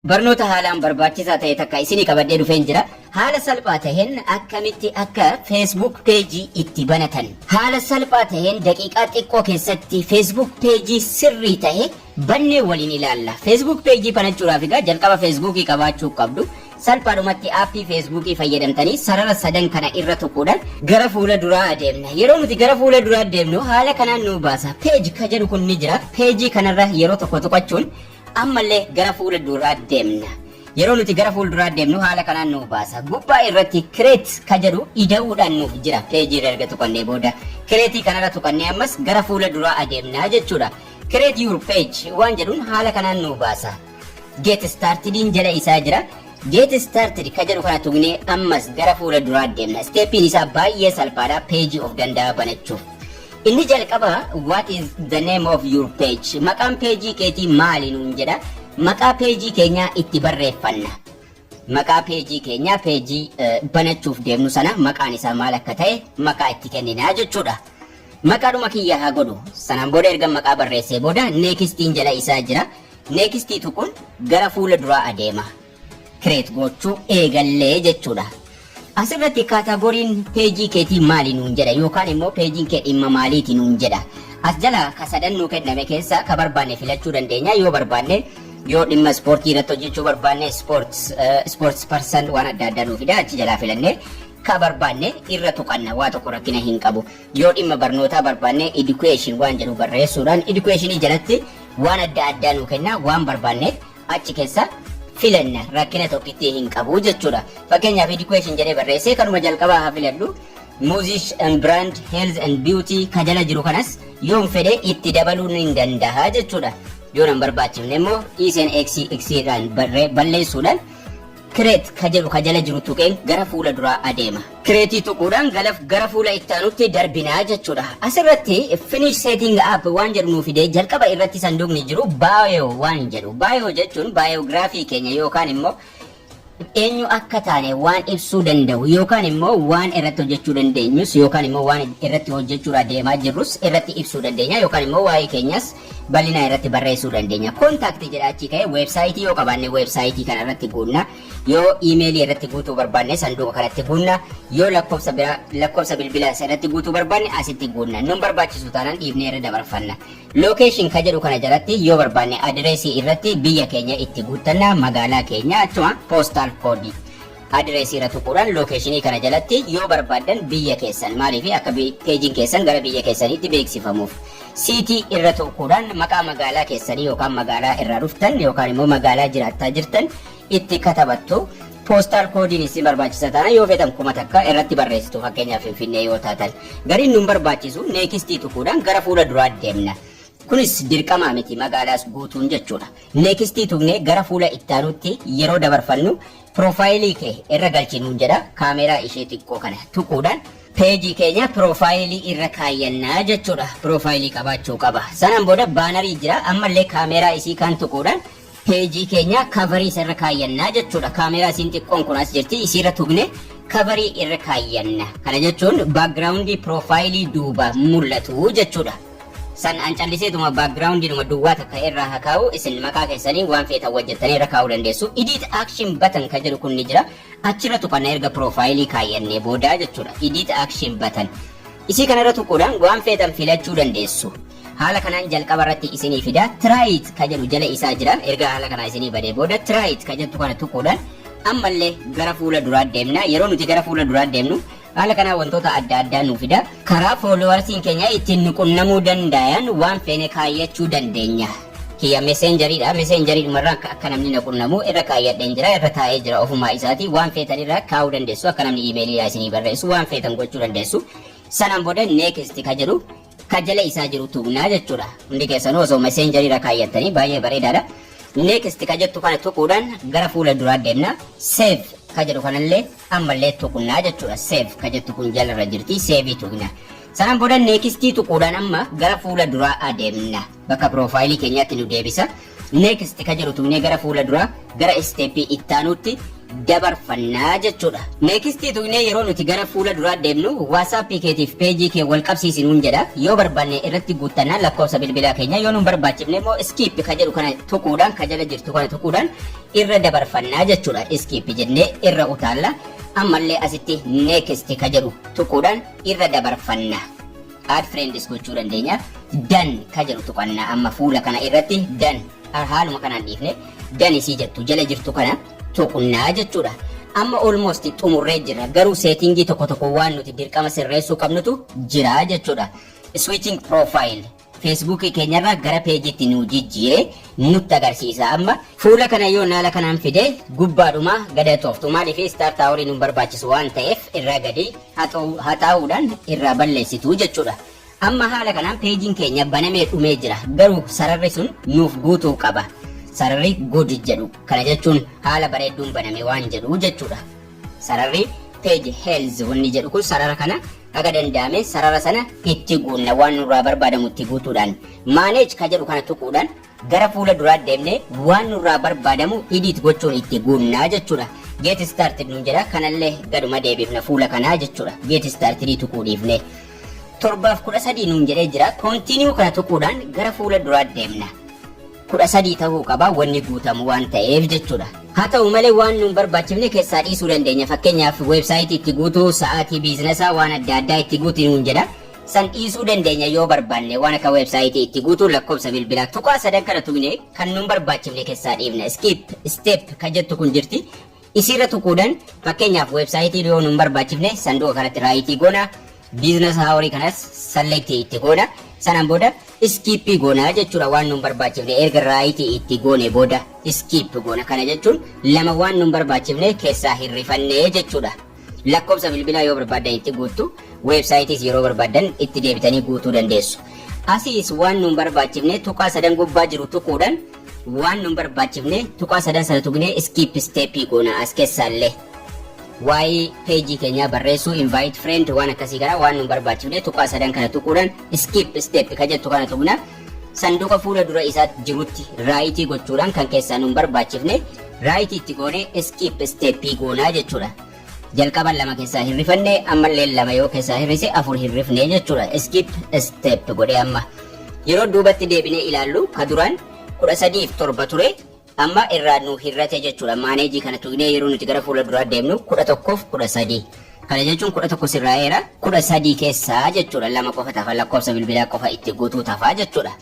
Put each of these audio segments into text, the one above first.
Barnoota haalaan barbaachisaa ta'e takka isinii qabadhee dhufeen jira. Haala salphaa taheen akkamitti akka Facebook page itti banatan. Haala salphaa taheen daqiiqaa xiqqoo keessatti Facebook page sirrii tahe bannee waliin ilaalla. Facebook page banachuudhaaf egaa jalqaba Facebook qabaachuu qabdu. Salphaadhumatti aappii Facebook fayyadamtanii sarara sadan kana irra tuquudhaan gara fuula duraa adeemna. Yeroo nuti gara fuula duraa deemnu haala kanaan nu baasa. Page ka jedhu kun ni jira. Page kanarra yeroo tokko tuqachuun Ammallee gara fuula duraa deemna. Yeroo nuti gara fuula duraa deemnu haala kanaan nuu baasa. Gubbaa irratti create ka jedhu ida'uudhaan nuuf jira. Peejii irra erga tuqannee booda create kanarra tuqannee ammas gara fuula duraa adeemna jechuudha. Create your page waan jedhuun haala kanaan nuu baasa. Get startediin jala isaa jira. Get started ka jedhu kana tuqnee ammas gara fuula duraa deemna. Steepiin isaa baay'ee salphaadha peejii of danda'aa banachuuf. Inni jalqaba what is the name of your page maqaan peejii keetii maali nuun jedha maqaa peejii keenyaa itti barreeffanna maqaa peejii keenyaa peejii banachuuf deemnu sana maqaan isaa maal akka ta'e maqaa itti kenninaa jechuudha maqaadhuma kiyya haa godhu sanaan booda erga maqaa barreessee booda neekistiin jala isaa jira neekistii tuquun gara fuula duraa adeema create gochuu eegalle jechuudha. Asirratti kaataagoriin peejii keetii maali nuun jedha yookaan immoo peejiin kee dhimma maaliiti nuun jedha. As jala ka sadan nuu kenname keessaa ka barbaanne filachuu dandeenya yoo barbaanne yoo dhimma ispoortii irratti hojjechuu barbaanne sports eh, sports person waan adda addaa nuu fida achi jalaa filannee ka barbaanne irra tuqanna waa tokko rakkina hin qabu. Yoo dhimma barnootaa barbaanne education waan jedhu barreessuudhaan educationii jalatti waan adda addaa nuu kenna waan barbaanne achi kessa filanna rakkina tokkittii hin qabu jechuudha fakkeenyaaf education jedhee barreessee kanuma jalqabaa haa filadhu music and brand health and beauty ka jala jiru kanas yoon fedhe itti dabaluu nin dandaha jechuudha yoo nan barbaachifne immoo dhiiseen x x irraan balleessuudhaan Create ka jedhu ka jala jiru tuqeen gara fuula duraa adeema. Create tuquudhaan galaf gara fuula itti aanutti darbina jechuudha. As irratti Finish Setting Up waan jedhu nuu fidee jalqaba irratti sanduuqni jiru Bio waan jedhu. Bio jechuun biography keenya yookaan immoo eenyu akka taane waan ibsuu danda'u yookaan immoo waan irratti hojjechuu dandeenyus yookaan immoo waan irratti hojjechuudhaa deemaa jirrus irratti ibsuu dandeenya yookaan immoo waa'ee keenyas bal'inaa irratti barreessuu dandeenya. Contact jedha achii ka'ee weebsaayitii yoo qabaanne weebsaayitii kana irratti guunna. Yoo iimeelii irratti guutuu barbaanne sanduuqa kanatti guunna. Yoo lakkoofsa biraa lakkoofsa bilbilaa irratti guutuu barbaanne asitti guunna. Nun barbaachisu taanaan dhiifnee irra dabarfanna. Location ka jedhu kana jalatti yoo barbaanne adireesii irratti biyya keenya itti guuttanna magaalaa keenya achuma postal code Address irra tuquudhaan location kana jalatti yoo barbaaddan biyya keessan maaliif akka peejiin keessan gara biyya keessaniitti beeksifamuuf. City irra tuquudhaan maqaa magaalaa keessanii yookaan magaalaa irraa dhuftan yookaan immoo magaalaa jiraattaa jirtan itti katabattu. Postal koodiin isin barbaachisa taana yoo feetan kuma takka irratti barreessitu fakkeenyaaf finfinnee yoo taatan. Gariin nun barbaachisu neekistii tuquudhaan gara fuula duraa deemna. Kunis dirqamaa miti magaalaas guutuun jechuudha. Neekistii tuqnee gara fuula ittaanutti yeroo dabarfannu Profile kee irra galchi nuun jedha. Camera ishee xiqqoo kana tuquudhaan page keenya profile irra kaayyanna jechuudha. Profile qabaachuu qaba. Sanaan booda banner jira. Ammallee camera isii kan tuquudhaan page keenya cover isa irra kaayyanna jechuudha. Camera isiin xiqqoon kun as jirti. Isiirra tuqne cover irra kaayyanna. Kana jechuun background profile duuba mul'atu jechuudha. San an calliseetuma backgroundidhuma duwwaa takka irraa ha kaa'u isin maqaa keessaniin waan feetan wajjattanii irra kaa'uu dandeessu edit action button ka jedhu kun ni jira achirra tuqanna erga piroofaayilii kaayyannee boodaa jechuudha edit action button isii kanarra tuquudhaan waan feetan filachuu dandeessu haala kanaan jalqaba irratti isinii fida try it ka jedhu jala isaa jira erga haala kanaa isinii badee booda try it ka jettu kana tuquudhaan ammallee gara fuula duraa deemna yeroo nuti gara fuula duraa deemnu Haala kanaan wantoota adda addaa nuu fida. Karaa foolowarsiin keenya ittiin nu qunnamuu dandaayan waan feene kaayyachuu dandeenya. Kiyya meseenjariidha. Meseenjariidhuma irraa akka namni na qunnamu irra kaayyadheen jira. Irra taa'ee jira ofumaa isaati. Waan feetan irra kaa'uu dandeessu. Akka namni iimeelii naa isinii barreessu waan feetan gochuu dandeessu. Sanaan booda next ka jedhu ka jala isaa jiru tuqnaa jechuudha hundi keessanuu osoo messenger irra kaayyattanii baay'ee bareedaadha next ka jettu kana tuquudhaan gara fuula duraa deemna save ka jedhu kanallee ammallee tuqnaa jechuudha save ka jettu kun jalarra jirti save tuqna sanaan booda next tuquudhaan amma gara fuula duraa adeemna Bakka piroofaayilii keenyaatti nu deebisa. Next ka jedhu tuqnee gara fuula duraa gara step ittaanuutti dabarfanna jechuudha. Next tuqnee yeroo nuti gara fuula duraa deemnu WhatsApp keetiif page kee wal qabsiisi nuun jedha. Yoo barbaanne irratti guuttanna lakkoofsa bilbilaa keenya yoo nun barbaachifne immoo skip ka jedhu kana tuquudhaan ka jala jirtu kana tuquudhaan irra dabarfanna jechuudha. Skip jennee irra utaalla. Ammallee asitti next ka jedhu tuquudhaan irra dabarfanna. Add Friends gochuu dandeenya. Done ka jedhu tuqanna amma fuula kana irratti done Har- haaluma kanaan dhiifne done isii jettu jala jirtu kana tuqnaa jechuudha. Amma almost xumurree jirra garuu seetingii tokko tokko waan nuti dirqama sirreessuu qabnutu jira jechuudha. Switching profile Facebook keenyarraa gara peejiitti nu jijjiire nutti agarsiisa amma. Fuula kana yoo naala kanaan fide gubbaadhuma gada tooftu maaliif start hour nu barbaachisu waan ta'eef irraa gadi haxaa'uudhaan irraa balleessitu jechuudha. Amma haala kanaan peejiin keenya banamee dhumee jira. Garuu sararri sun nuuf guutuu qaba. Sararri good jedhu. Kana jechuun haala bareedduun baname waan jedhu jechuudha. Sararri page health wanni jedhu kun sarara kana haga danda'ame sarara sana itti guunna waan nurraa barbaadamu itti guutuudhaan manage ka jedhu kana tuquudhaan Gara fuula duraa deemnee waan nurraa barbaadamu edit gochuun itti guunna jechuudha. Get started nuun jedha kanallee gaduma deebifna fuula kanaa jechuudha. Get started tuquu dhiifnee. Torbaaf kudha sadii nuun jedhee jira. Continue kana tuquudhaan gara fuula duraa deemna. Kudha sadii ta'uu qaba wanni guutamu waan ta'eef jechuudha. Haa ta'u malee waan nuun barbaachifne keessaa dhiisuu dandeenya. Fakkeenyaaf weebsaayitii itti guutuu, sa'aatii biizinasaa waan adda addaa itti guuti nuun jedha. San dhiisuu dandeenya yoo barbaanne waan akka website itti guutuu lakkoofsa bilbilaa tuqaa sadan kana tuqne kan nun barbaachifne kessaa dhiifna skip step kan jettu kun jirti isiirra tuquudhan fakkeenyaaf website yoo nun barbaachifne sanduqa kanatti raayitii goona business hour kanas select itti goona sanan booda skip goona jechuudha waan nun barbaachifne erga raayitii itti goone booda skip goona kana jechuun lama waan nun barbaachifne kessaa hin rifanne jechuudha. Lakkoofsa bilbilaa yoo barbaaddan itti guuttu, weebsaayitiis yeroo barbaaddan itti deebitanii guutuu dandeessu. Asiis waan nuun barbaachifne tuqaa sadan gubbaa jiru tuquudhaan waan nuun barbaachifne tuqaa sadan sana tuqnee iskiip isteeppii goona as keessaallee. Waa'ee peejii keenyaa barreessuu, invite friend waan akkasii kana waan nuun barbaachifne tuqaa sadan kana tuquudhaan iskiip isteeppi ka jettu kana tuqna. Sanduqa fuula dura isaa jirutti raayitii gochuudhaan kan keessaa nun barbaachifne raayitii itti goonee iskiip steeppii goonaa jechuudha. Jalqaba lama keessaa hirrifanne ammallee lama yoo keessaa hirrise afur hirrifne jechuudha. Iskiip steep godhee amma. Yeroo duubatti deebinee ilaallu ka duraan kudha sadiif torba ture Amma irraa nuu hir'ate jechuudha. Maaneejii kana tuqnee yeroo nuti gara fuula duraa deemnu kudha tokkoof kudha sadii. Kana jechuun kudha tokko sirraa'eera. Kudha sadii keessaa jechuudha lama qofa tafa lakkoofsa bilbilaa qofa itti guutuu tafa jechuudha.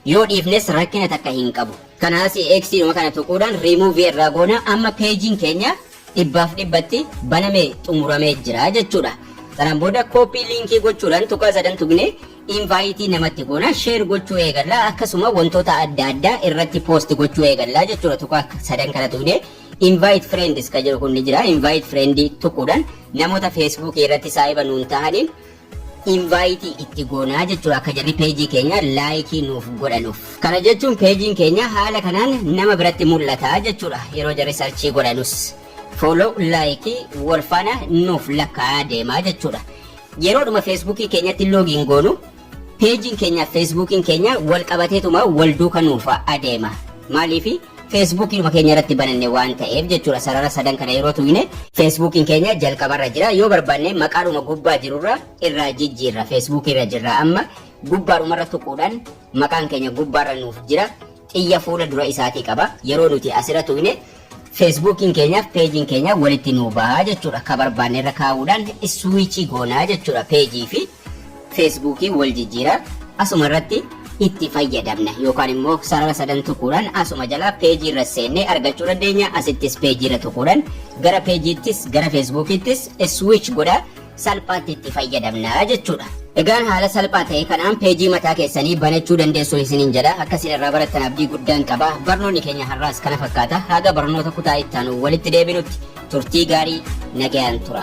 Yoo dhiifnes rakkina takka hin qabu. Kana asii X dhuma kana tuquudhaan remove irraa goona amma peejiin keenya dhibbaaf dhibbatti banamee xumuramee jira jechuudha. Sanaan booda kooppii liinkii gochuudhaan tuqaa sadan tuqnee invite namatti goona share gochuu eegalla akkasuma wantoota adda addaa irratti post gochuu eegalla jechuudha tuqaa sadan kana tuqne invite friends ka jedhu kun ni jira invite friend tuquudhaan namoota facebook irratti saahiba nuun tahaniin invite itti goonaa jechuudha akka jarri peejii keenya laayikii nuuf godhanuuf kana jechuun peejiin keenya haala kanaan nama biratti mul'ata jechuudha yeroo jarri sarchii godhanus follow laayikii wal faana nuuf lakkaa'aa deemaa jechuudha Yeroodhuma Feesbuukii keenyatti loogiin goonu peejiin keenyaaf Feesbuukiin keenya wal qabateetuma wal duuka nuuf adeema. Maaliifi? Feesbuukiidhuma keenya irratti bananne waan ta'eef jechuudha. Sarara sadan kana yeroo tuqne Feesbuukiin keenya jalqabarra jira. Yoo barbaanne maqaadhuma gubbaa jirurra irraa jijjiirra. Feesbuukiirra jirra amma gubbaadhumarra tuquudhaan maqaan keenya gubbaarra nuuf jira. Xiyya fuula dura isaatii qaba. Yeroo nuti asirra tuqne Feesbuukiin keenyaa fi peejiin keenyaa walitti nuu baha jechuudha. Ka barbaanne irra kaa'uudhaan iswiichii goona jechuudha. Peejii fi feesbuukii wal jijjiira. Asuma irratti itti fayyadamna yookaan immoo sarara sadan tuquudhaan asuma jalaa peejii irra seennee argachuu dandeenya. Asittis peejii irra tuquudhaan gara peejiittis gara feesbuukiittis iswiich godha. salphaatti itti fayyadamna jechuudha. Egaan haala salphaa ta'e kanaan peejii mataa keessanii banachuu dandeessu isiniin jedha. Akka isin irraa barattan abdii guddaan qaba. Barnoonni keenya har'aas kana fakkaata. Haga barnoota kutaa itti aanu walitti deebinutti turtii gaarii nagayaan tura.